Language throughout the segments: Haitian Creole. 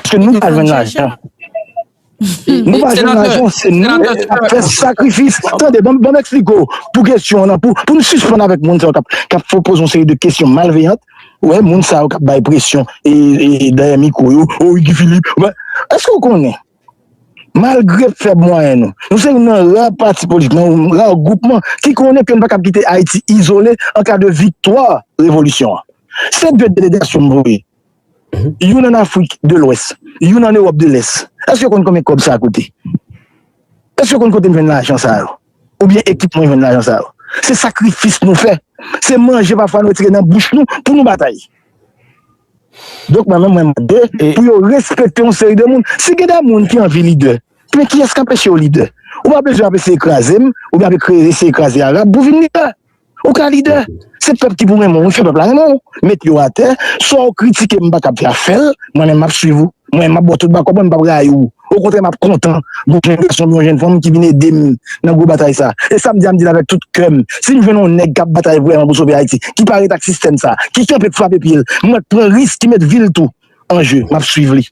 Paske nou pa jwenn lajan. Nou pa jwenn lajan, se nou ki ap fè sakrifis. Tande, ban m eksplike w pou kesyon an, pou nou sispann avèk moun sa yo k ap poze yon seri de kesyon malveyant. Ou wè, moun sa yo k ap bay presyon dèyè mikwo yo, o Guy Philippe, eske ou konnen Malgre fèb mwayen nou, nou se youn nan ra pati politik, nan yon ra gwoupman ki konnen ke nou pa kab kite Ayiti izole an ka de viktwa revolisyon an. Se 2 delegasyon m voye, youn an Afrik de Lwès, youn an Ewòp de Lès. Èske w konn konbyen kòb sa koute? Èske w konn kote m jwenn lajan sa yo? Oubyen ekip mwen jwenn lajan sa yo? Se sakrifis nou fè, se manje pafwa nou retire nan bouch nou pou nou batay. Donk mwen menm mwen mande pou yo respekte yon seri de moun. Si gen de moun ki anvi lidè, men kiyès k anpeche yo lidè? Ou pa bezwen ap eseye kraze m, oubyen ap eseye kraze Arab pou vin lidè. Ou ka lidè. Se pèp ki pou renmen w, fè pèp la renmen w. Met yo atè. Sa w kritike m pa kapab fè afè l, mwen menm m ap suiv ou. Mwen, m ap ba w tout bakòp mwen, m pap rayi w. Okontrè, m ap kontan gen yon jenn gason oubyen yon jenn fanm ki vin ede m nan gwo batay sa a. E sa m di a, m di l avèk tout kè m, si m jwenn yon nèg k ap batay vrèman pou sove Ayiti, ki pa ret ak sistèm sa a, ki kanpe pou frape pye l, mwen k pran risk ki met vi l tou an je, m ap suiv li.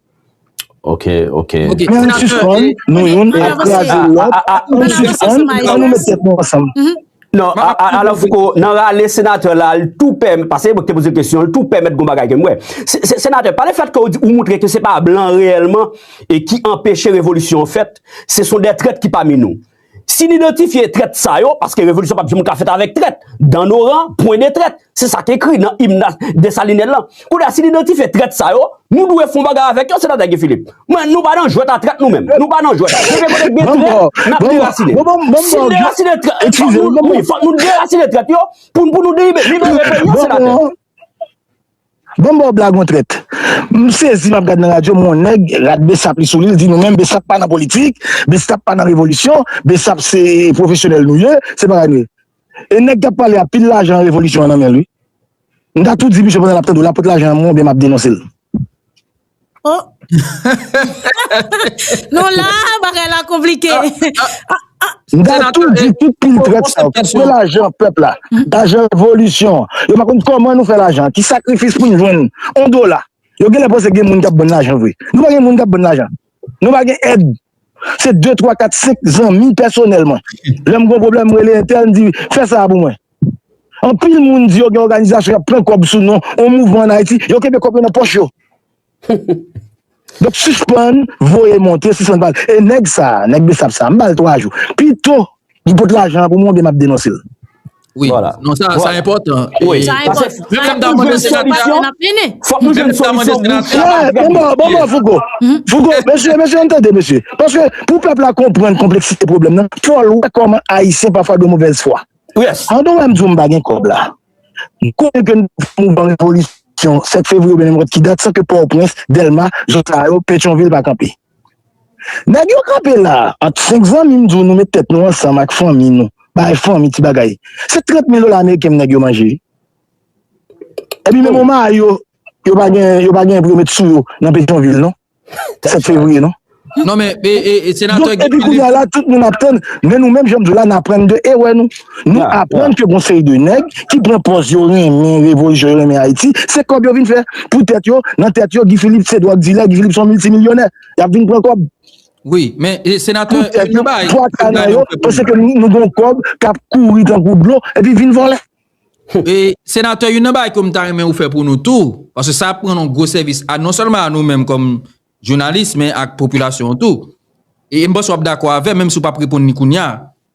Ok, ok. Men ann sispann, nou youn ap kraze lòt, ann sispann, annou met tèt nou ansanm. Non, Alain Foucault, nan rale senatè la, l tou pè, pase mwen te poze kesyon, l tou pè mèt gon bagay ke mwen. Senatè, pa le fèt ke ou di ou moutre ke se pa blan reyèlman e ki anpeche revolisyon fèt, se son de trèt ki pami nou. Si n idantifye trèt sa yo, paske revolisyon pa p janm ka fèt avèk trèt, dan noran, pwen de trèt. Se sa ki ekri nan im na Desalinè lan. Kounye a, si n idantifye trèt sa yo, nou dwe fon bagay avèk yo, Senatè Guy Philippe. Mwen, nou pa nan jwèt a trèt nou menm. Nou pa nan jwèt. Depi kote gen trèt, n ap derasinen. Si n derasinen trèt, fòk nou, wi, fòk nou derasinen trèt yo pou pou nou deribe, libere peyi an, Senatè. Bon ba w blag on trèt. M sezi m ap gad nan radyo, m wè on nèg, rad Bsap li sou li, l di nou menm Bsap pa nan politik, Bsap pa nan revolisyon, Bsap se pwofesyonèl nou ye, se bagay nou ye. E nèg kap pale a pil lajan revolisyon an nan menl wi. M ta tou di misye pandan lap tande w la pot lajan an mwen oubyen map denonsel. Ohh Nou la bagay la konplike M ta tou di tout pil trèt sa yo kap pran lajan pèp la lajan revolisyon an yo pa konn kòman nou fè lajan ki sakrifis poun jwenn on dola yo genlè panse gen moun kap bann lajan vre nou pa gen moun kap bann lajan Nou pa gen èd. Se 2, 3, 4, 5 zanmi pèsonèl mwen. Lè m gen yon pwoblèm m rele entèl m di fè sa a pou mwen. Anpil moun di yo gen òganizasyon y ap pran kòb sou non yon mouvman ann Ayiti, yo kenbe kòb yo nan pòch yo. Donk sispann voye monte, sispann pale. E nèg sa a, nèg Bsap sa a, m ba l 3 jou. Pito Li pot lajan an pou mwen oubyen map denonse l? Wi, non sa sa enpòtan. Sa enpòtan. Fòk nou jwenn solisyon pou chak. Bon bon Fouco, Fouco mesye mesye ann tande mesye. Paske pou pèp la konprann konpleksite pwoblèm nan, fòl wè kòman ayisyen pafwa dwe movèz fwa. Pandan wè m di w m pa gen kòb la, m konnen ke n fè mouvman revolisyon 7 fevriye oubyen nenpòt ki dat san ke Pòtoprens, Dèlma, zòn sa yo, Petyonvil pa kanpe. Nèg yo kanpe la a ant senk zanmi m di w nou met tèt nou ansanm ak fanmi nou bay fanmi ti bagay se 30 mil dola ameriken nèg yo manje wi epi menm omar yo yo pa gen yo pa gen pou yo met sou yo nan petyonvil non 7 fevriye non non men senatè epi kounye a la tout moun ap tann men nou menm jan m di w la n aprann de erè nou Nou aprann ke gon seri de nèg ki pran pòz yo renmen revolisyon, yo renmen Ayiti, se kòb yo vin fè pou tèt yo, nan tèt yo Guy Philippe se dwòg dilè, Guy Philippe son miltimilyonè, y ap vin pran kòb. Wi, men senatè, yon bagay, pou tèt nou, yon bagay, pase ke nou gon kòb k ap kouri tankou dlo, epi vin vòlè. E, senatè, yon nan bagay ke m ta renmen ou fè pou nou tou, pase sa ap pran nou gwo sèvis, a non sèlman a nou menm kòm jounalis, men ak popilasyon tou, e m panse w ap dakò avè m, menm si w pa p reponn ni kounya.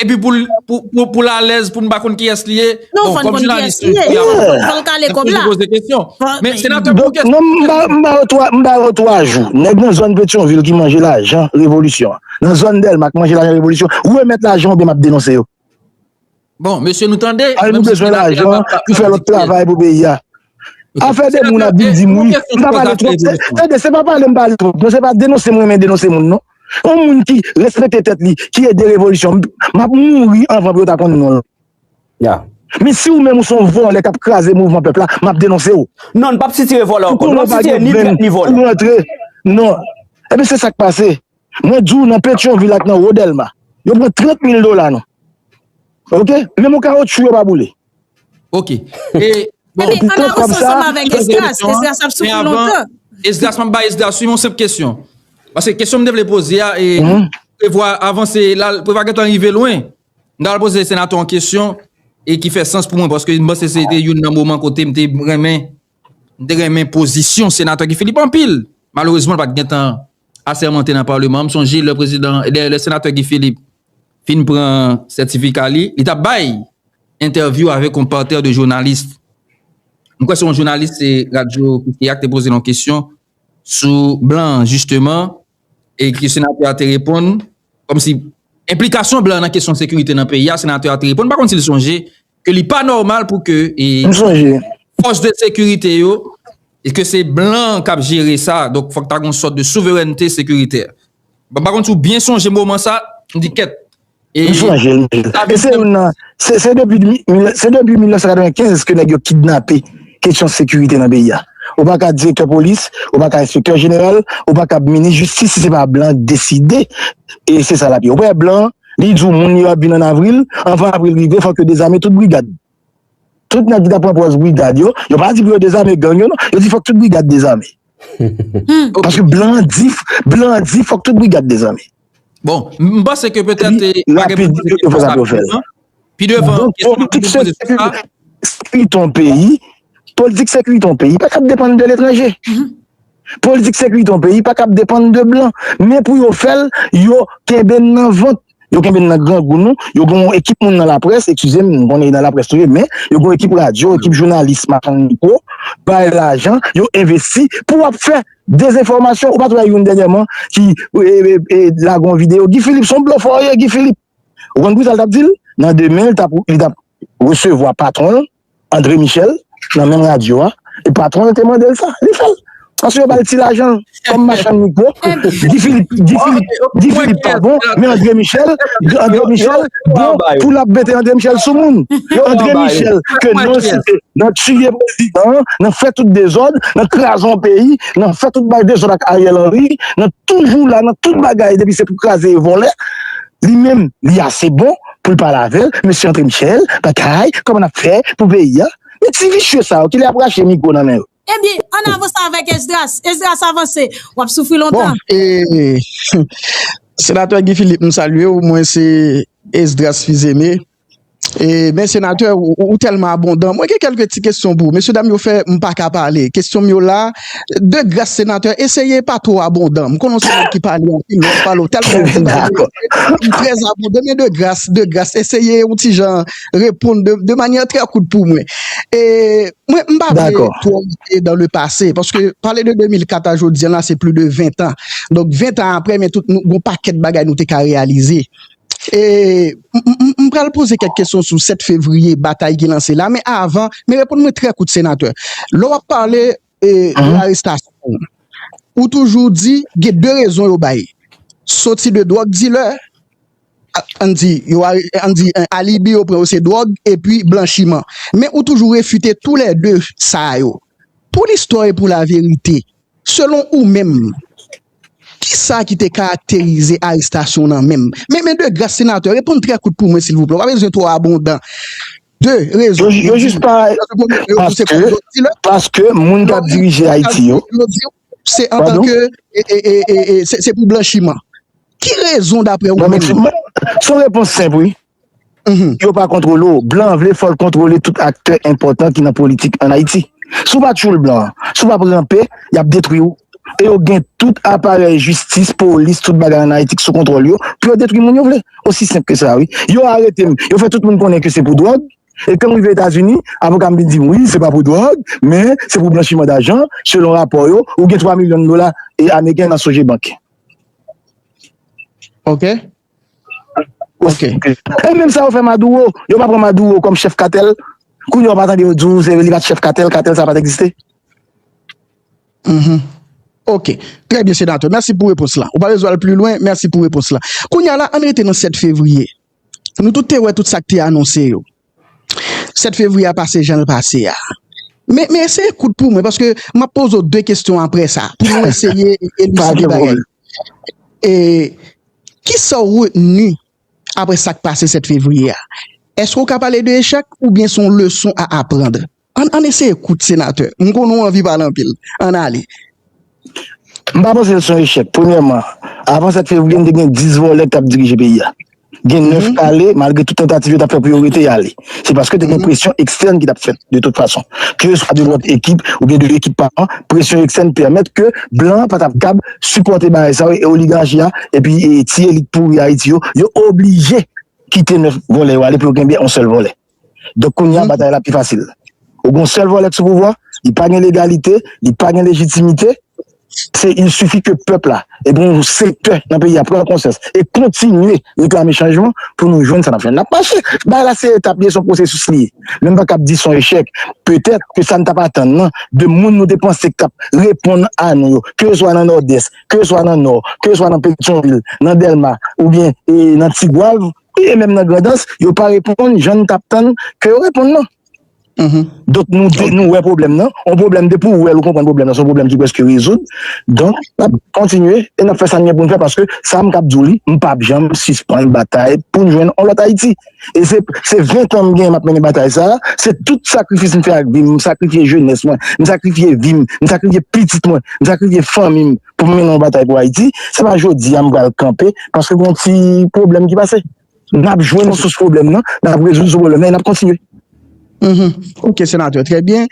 Epi pou l pou l alèz pou nou pa konn kiyès li ye. Non fòn konn kiyès li ye. Fò l kale kòb la. Men senatè pou kiyès. Non m ba m ba w 3 m ba w 3 jou. Nèg nan zòn Petyonvil ki manje lajan revolisyon an. Nan zòn Dèlma k manje lajan revolisyon. Remèt lajan oubyen m ap denonse yo. Bon mesye nou tande. Al nou bezwen lajan pou fè lòt travay pou peyi a. Afè de moun ap vin di m wi, m pa pale twòp, tande se pa pale m pale twòp non, se pa denonse m renmen denonse moun non. Yon moun ki respekte tèt li, ki ede revolisyon, m ap mouri anvan pou yo ta konn non l. Men si ou menm ou s on vòlè k ap kraze mouvman pèp la, m ap denonse ou. Non, n p ap sitire vòlè ankò. Nou p ap sitire ni trèt ni vòlè. Ou rantre, non. Enben se sa k pase. Mwen di w nan petyonvil ak nan wo dèlma yo pran 30 mil dola nou ok menm yon kawotchou yo pa boule. Ok e bon. Ebyen an avanse ansanm avèk esdras, esdras ap soufri lontan. Esdras map bay esdras yon senp kesyon paske kesyon m te vle poze a e prevwa avanse la prevwa gentan rive lwen m ta al poze senatè yon kesyon e ki fè sans pou mwen paske m panse se te youn nan moman kote m te renmen M te renmen pozisyon Senatè Guy Philippe anpil. Malerezman l pa t gen tan asèmante nan Paleman an. M sonje lè prezidan, lè Senatè Guy Philippe fin pran sètifika li, li t ap bay entèvyou avèk yon patè de jounalis. M kwè se yon jounalis radyo Kiskeya ki te poze l yon kesyon sou blan an jisteman. E ki senatè a te reponn, kòm si enplikasyon blan nan kesyon sekirite nan peyi a, senatè a te reponn, m pa konn si l sonje, ke li pa nòmal pou ke e fòs de sekirite yo, e ke se blan k ap jere sa, donk fòk ta gen yon sòt de souverènte sekiritè. M pa konn si w byen sonje moman sa, m di kèt, Li sou anje l e se youn nan se depi 1995 ke nèg yo kidnape kesyon sekirite nan peyi a ou pa ka direktè polis ou pa ka enspektè jeneral ou pa kab minis jistis si se pa blan k deside e se sa l ap ye ou pa wè blan li di w moun yo ap vin an avril anvan avril rive fòk yo dezame tout brigad Tout nèg ki tap pran pòz brigad yo, yo pa di pou yo dezame gang yo non, yo di fòk tout brigad dezame. Paske blan an di, blan an di fòk tout brigad dezame. Bon, m panse ke petèt e pa gen pou poze kesyon sa pi devan. Pi devan, kesyon pou poze kesyon sa. Sekurite yon peyi, politik sekurite yon peyi pa ka depann de letranje. Politik sekirite yon peyi pa kab depann de blan, men pou yo fè l, yo kenbe n nan vant, yo kenbe n nan grangou nou, yo gen yon ekip moun nan laprès, eskize m, m konnen nan laprès nou ye, men yo gen yon ekip radyo, ekip jounalis machann mikwo, bay lajan, yo envesti pou ap fè dezenfòmasyon, ou pa t wè youn dènyèman ki lage yon videyo, Guy Philippe s on blofè ou ye Guy Philippe, ou konn pou ki sa l t ap di l? Nan demen li t ap resevwa patwon l. Andre Michel nan menm radyo a e patwon l te mande l sa, li fè l. Paske yo ba l ti lajan kòm machann mikwo. Guy Philippe pa bon, men Andre Michel bon pou l ap mete Andre Michel sou moun. Andre Michel ke non l site nan tiye prezidan an, nan fè tout dezòd, nan kraze yon peyi, nan fè tout bay dezòd ak Ariel Henry, nan toujou la nan tout bagay depi se pou kraze e vòlè, li menm li ase bon poul pale avèl mesye antre Michel batay kòman nap fè pou peyi an men ti visye sa yo kilè yap rache mikwo nan men yo. Ebyen ann avanse avèk Esdras, Esdras avanse, wap soufri lontan. Bon ee Senatè Guy Philippe m salye w mwen se Esdras Fils-Aimé e men Senatè ou tèlman abondan mwen gen kèlke ti kesyon pou ou mesye dam yo fè m paka pale kesyon m yo la. De gras senatè eseye pa two abondan m konnen w se nèg ki pale anpil lè w pale w tèlman anpil ou trè abondan men de gras de gras eseye yon ti jan reponn de manyè trè kout pou mwen e mwen m pa vle two rete dan le pase paske pale de 2004 a jodi an la se pli de 20 tan donk 20 tan aprè men tout nou gon pakèt bagay nou te ka reyalize. E m pral poze kèk kesyon sou 7 fevriye batay ki lanse la men avan men reponn mwen trè kout senatè lè w ap pale de arestasyon ou toujou di gen 2 rezon yo bay soti de dwòg dilè an di yo an di alibi yo pran yo se dwòg epi blanchiman men ou toujou refite tou lè 2 sa yo pou listwa e pou laverite selon ou menm. Ki sa ki te karakterize arestasyon w nan menm? Men de gras senatè, reponn trè kout pou mwen silvouplè, w pa bezwen twò abondan. De rezon pou di yo se kòm dwòg dilè. Paske moun k ap dirije Ayiti yo. Se antanke se pou blanchiman. Ki rezon dapre ou menm? Son repons senp wi. Yo pa kontwole w. Blan an vle fò l kontwole tout aktè enpòtan ki nan politik ann Ayiti. Si w pa tchoul blan an, si w pa p ranpe, y ap detwi w. E yo gen tout aparèy jistis, polis, tout bagay ann Ayiti ki sou kontwòl yo pou yo detwi moun yo vle. Osi senp ke sa wi. Yo arete m, yo fè tout moun konnen ke se pou dwòg. E kan m rive Etazini, avoka m vin di m, wi, se pa pou dwòg, men se pou blanchiman dajan, selon rapò yo, ou gen 3 milyon dola ameriken nan Sogebank. Ok. Ok. E menm sa yo fè Maduro, yo pa pran Maduro kòm chèf katèl, kounye a ou pa tande yo di w se li pa t chèf katèl, katèl sa pa t egziste? Mph. Ok. Trè byen Senatè, mèsi pou repons la. Ou pa bezwen al pli lwen, mèsi pou repons la. Kounye a la, ann rete nan 7 fevriye. Nou tout te wè tout sa k te anonse yo. 7 fevriye a pase jan l pase a. Men men eseye kout pou mwen paske m ap poze w 2 kesyon apre sa pou nou eseye eliside bagay. E kisa w retni apre sa k pase 7 fevriye a? Eske w ka pale de echèk oubyen se yon leson a aprandr? An an eseye kout senatè. M konnen w anvi pale anpil. An ale. M pa panse l se yon echèk. Premyèman, avan 7 fevriye nou te gen 10 vòlè k t ap dirije peyi a. Gen 9 k ale malgre tout tantativ yo t ap fè pou yo rete y ale. Se paske te gen presyon ekstèn ki t ap fèt de tout fason. Keseswa de lòt ekip oubyen de ekip pa an, presyon ekstèn pèmèt ke blan an pa t ap kab sipòte bagay sa yo e oligachi a epi ti elit pouri Ayiti yo, yo oblije kite 9 vòlè yo ale pou yo kenbe yon sèl vòlè. Donk kounye a batay la pi fasil. Ou gen yon sèl vòlè k sou pouvwa, li pa gen legalite, li pa gen lejitimite, se il sifi ke pèp la e gen yon sektè nan peyi a pran konsyans e kontinye reklame chanjman pou nou jwenn sa n ap jwenn. N ap mache. Bagay la se etap li ye, se yon pwosesis li ye. Men m pa kab di se yon echèk. Petèt ke sa n t ap atann nan de moun nou te panse k t ap reponn a nou yo, keseswa nan Nòdès, keseswa nan Nò, keseswa nan Petyonvil, nan Dèlma oubyen nan Tigwav, Wi e menm nan grandans yo pa reponn jan nou tap tann ke yo reponn nan. Donk nou di nou wè pwoblèm nan, yon pwoblèm depi ou wèl ou konprann pwoblèm nan se yon pwoblèm ki prèske rezoud. Donk nap kontinye e nap fè sa nou gen pou nou fè paske sa m kab di w li m pap janm sispann batay pou n jwenn yon lòt Ayiti. E se se 20 tan m gen map mennen batay sa, se tout sakrifis m fè ak vi m, m sakrifye jenès mwen, m sakrifye vi m, m sakrifye pitit mwen, m sakrifye fanmi m. pou m mennen yon batay pou Ayiti, se pa jodi a m pral kanpe paske gen yon ti pwoblèm ki pase. N ap jwenn sous pwoblèm nan, n ap rezoud sous pwoblèm nan e n ap kontinye. Ok senatè, trè byen.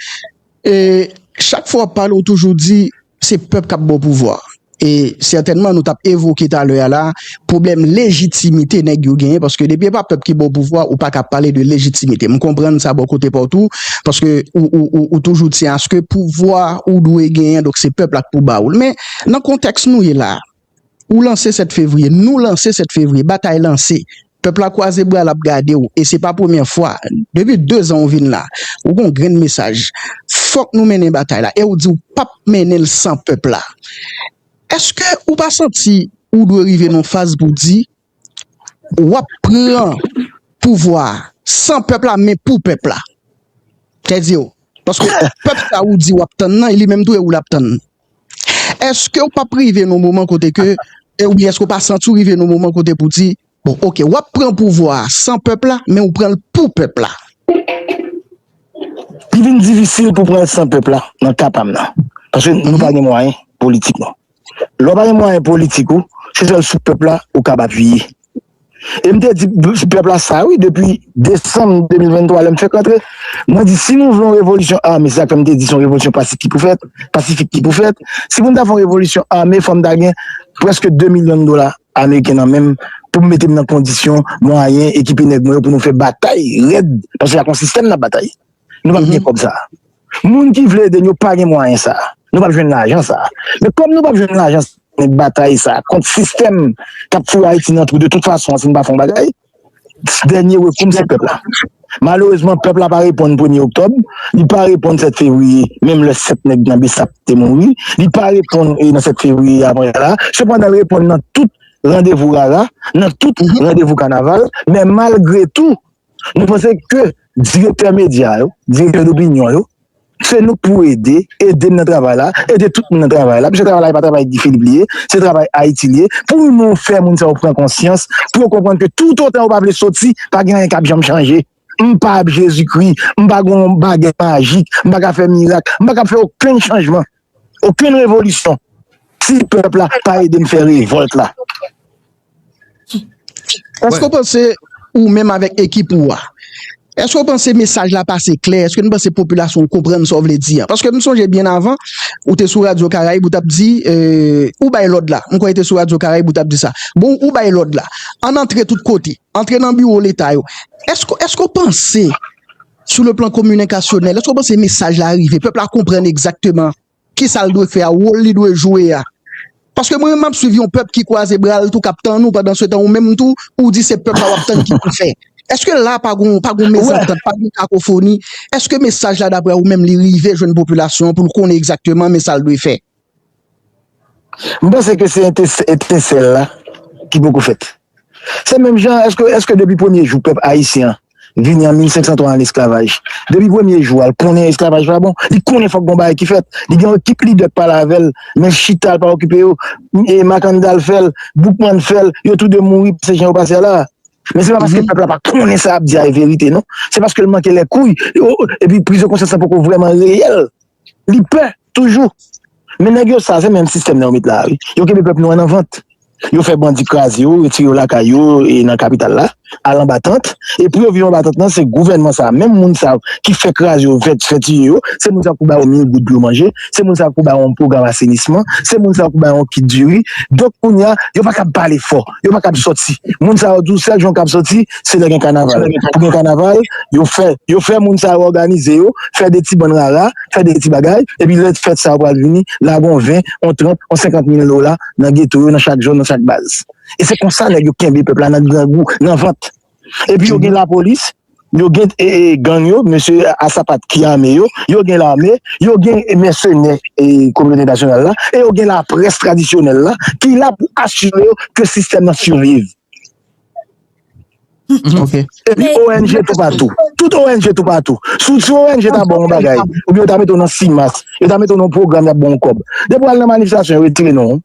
Chak fwa w ap pale ou toujou di se pèp k ap ba w pouvwa e sètènman nou t ap evoke talè a la pwoblèm lejitimite nèg yo genyen paske depi e pa pèp ki ba w pouvwa ou pa ka ap pale de lejitimite m konprann sa bò kote pa w tou paske ou toujou tyen aske pouvwa ou dwe genyen donk se pèp la k pou ba w l men nan kontèks nou ye la ou lanse 7 fevriye nou lanse 7 fevriye batay lanse pèp la kwaze bra l ap gade w e se pa premye fwa depi 2 zan ou vin la ou gon grenn mesaj fòk nou mennen batay la e ou di w pa p mennen l san pèp la. Eske ou pa santi ou dwe rive nan yon faz pou di wap pran pouvwa san pèp la men pou pèp la? Kèdiw, paske pèp sa ou di wap tann nan li menm tou e ou lap tann. Eske ou pap rive nan yon moman kote ke, oubyen eske ou pa santi ou rive nan yon moman kote pou di Bon ok wap pran pouvwa a san pèp la men ou pranl pou pèp la. Li vin difisil pou pranl san pèp la nan ka pam nan. Paske nou pa gen mwayen politik nou. Lè ou pa gen mwayen politik ou se sèl sou pèp la ou kab apiye. E m te di pèp la sa wi depi desanm 2023 lè m fèk antre. Mwen di si nou vle yon revolisyon ame se sak fè m te di se yon revolisyon pasik ki pou fèt, pasifik ki pou fèt. Si pou m ta fè yon revolisyon ame fò m ta gen prèske 2 milyon dola Ameriken nan menm pou m mete m nan kondisyon, mwayen, ekipe nèg mwen yo pou nou fè batay rèd paske ak yon sistèm n ap batay. Nou p ap gen kòb sa a. Moun ki vle ede n yo pa gen mwayen sa a. Nou p ap jwenn lajan sa a. Men kòm nou p ap jwenn lajan sa a, batay sa a kont sistèm k ap foure Ayiti nan twou de tout fason an si n pa fè yon bagay. Dènye rekou m se pèp la. Malerezman pèp la pa reponn premye oktòb, li pa reponn 7 fevriye menm lè 7 nèg nan bsap te mouri, li pa reponn nan 7 fevriye apre sa la, sepandan l reponn nan tout randevou rara, nan tout randevou kanaval, men malgre tou nou panse ke direktè medya yo, direktè dopinyon yo, Se nou k pou ede, ede m nan travay la, ede tout moun nan travay la, pske travay la e pa travay Guy Philippe li ye, se travay Ayiti li ye, pou nou fè moun sa yo pran konsyans, pou yo konprann ke toutotan yo pa vle soti, pa gen anyen k ap janm chanje. M pa Jezikri, m pa gen yon bagèt majik, m pa ka fè mirak, m pa kab fè okenn chanjman. Okenn revolisyon si pèp la pa ede n fè revòlt la. Èske w panse ou menm avèk ekip ou a, èske w panse mesaj la pase klè? Èske nou panse popilasyon an konprann sa w vle di a? Paske m sonje byen avan, ou te sou radyo Karayib ou t ap di, ou bay lòd la, m kwè e te sou radyo Karayib ou t ap di sa, bon ou bay lòd la, ann antre tout kote, antre nan biwo Leta yo. Èske w panse Sou le plan kominikasyonèl, èske w panse mesaj la rive? Pèp la konprann egzakteman ki sa l dwe fè a, wòl li dwe jwe a? Paske mwen menm m ap swiv yon pèp ki kwaze bra l tou k ap tann ou pandansetan ou menm tou ou di se pèp la w ap tann ki pou fè. Èske la a pa gon pa gon mezantant, pa gon kakofoni? Èske mesaj la daprè ou menm li rive jwenn popilasyon an pou l konnen egzakteman men sa l dwe fè? M panse ke se etensèl la ki poko fèt. Se menm jan, èske depi premye jou pèp ayisyen an vini an 1503 an lesklavaj, depi premye jou a, l konnen esklavaj pa bon? Li konnen fòk gon bagay ki fèt. Li gen yon ekip lidè k pale avè l, men chita l pa okipe yo. Makandal fè l, Boukman fè l, yo tou de mouri pase jan yo pase a la a. Men se pa paske pèp la pa konnen sa y ap di a e verite non. Se paske l manke lèkouy epi prizonkonsyans lan poko vrèman reyèl. Li pè toujou. Men nèg yo save menm sistèm nan yo met la wi. Yo kenbe pèp nou an nan vant. Yo fè bandi kraze yo, retire yo lakay yo e nan kapital la, al anba tant. E pou yo viv anba tant nan, se gouvènman sa a, menm moun sa yo ki fè kraze yo, fè fè tiye yo, se moun sa yo ki pou ba yo 1000 goud pou yo manje, se moun sa yo ki pou ba yo yon pwogram asenisman, se moun sa yo ki pou ba yo yon kit diri. Donk kounye a, yo pa kab pale fò. yo pa kab soti moun sa yo di w sèl jan yo kab soti se lè gen kanaval pou gen kanaval yo fè yo fè moun sa yo òganize yo fè de ti bann rara fè de ti bagay epi lè fèt sa yo pral vini lage on 20 on 30 on 50 mil dola nan geto yo nan chak zòn nan chak baz e se konsa nèg yo kenbe pèp la nan grangou nan vant. Epi yo gen lapolis, yo gen gang yo, mesye a sapat ki ame yo, yo gen lame, yo gen mèsenè kominote entènasyonal la, e yo gen laprès tradisyonèl la ki la pou asire yo ke sistèm nan siviv. Epi ong toupatou. Tout ong toupatou. Si ong ta ba w yon bagay, oubyen yo ta mete w nan CIMAS, yo ta mete w nan yon pwogram y ap ba w kòb. Depi w al nan manifestasyon yo retire non w.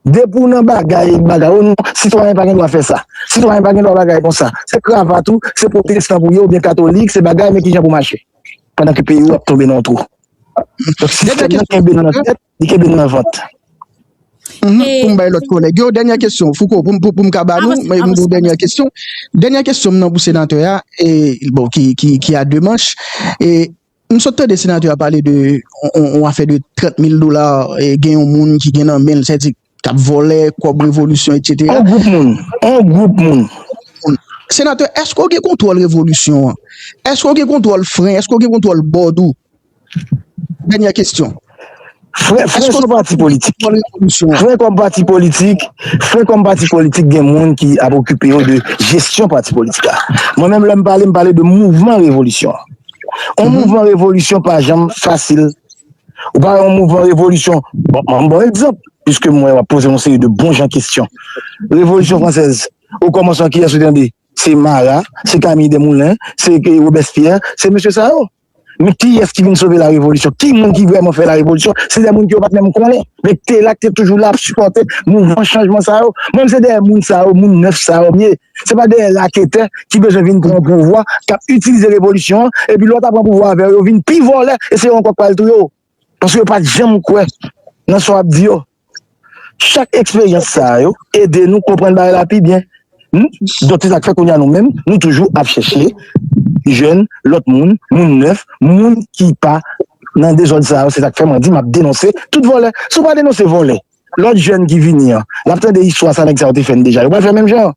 Depi w nan bagay e bagay, o non, sitwayen pa gen dwa fè sa, sitwayen pa gen dwa bagay kon sa, se kravat ou, se pwotestan pou ye oubyen katolik, se bagay men ki jan pou mache. Pandan ke peyi ou ap tonbe nan yon twou. Donk sistèm nan kenbe nou nan tèt, li kenbe nou nan vant. Pou m bay lòt kolèg yo, dènyè kesyon, Fouco, pou m ka ba nou, m gen yon dènyè kesyon. Dènyè kesyon m nan pou senatè a, bon, ki a 2 manch. M sot tande senatè a pale de yon afè de 30 mil dola gen yon moun ki gen nan menl sèdi kap vòlè kòb revolisyon etc. Yon gwoup moun, yon gwoup moun. Senatè èske w gen kontwòl revolisyon an? Èske w gen kontwòl fren? Èske w gen kontwòl bòd ou? Dènyè kesyon. Frè kòm pati politik, frè kòm pati politik, frè kòm pati politik gen moun ki ap okipe yo de jesyon pati politik la. Mwen menm lè m pale, m pale de mouvman revolisyon. On mouvman revolisyon pa janm fasil. Ou pa wè on mouvman revolisyon, bon m ban w egzanp, piske m wè w ap poze yon seri de bon jan kesyon. Revolisyon fransèz, o kòmansman kiyès ou tande? Se Marat, se Camille Desmoulins, se Robespierre, se mesye sa yo. Men kiyès ki vin sove la revolisyon? Ki moun ki vrèman fè la revolisyon? Se dè moun ke yo pat menm konnen, men ki te la, ki te toujou la ap sipòte mouvman chanjman sa yo. Mwen menm se dèyè moun sa yo, moun nèf sa yo m ye. Se pa dèyè raketè ki bezwen vin pran pouvwa, k ap itilize revolisyon an, epi lè w ta pran pouvwa avè yo, yo vin pi vòlè e se yo ankò k pral touye w. Paske yo pa t janm kwè nan sa w ap di yo. Chak eksperyans sa yo ede nou konprann bagay la pi byen. Donk se sa k fè kounye a nou menm nou toujou ap chèche jwenn lòt moun, moun nèf, moun ki pa nan dezòd sa yo. Se sa k fè mwen di m ap denonse tout vòlè. Si w pa denonse vòlè, lòt jèn ki vini an, l ap tande istwa sa nèg sa yo te fè n deja. Yo pral fè menm jan an.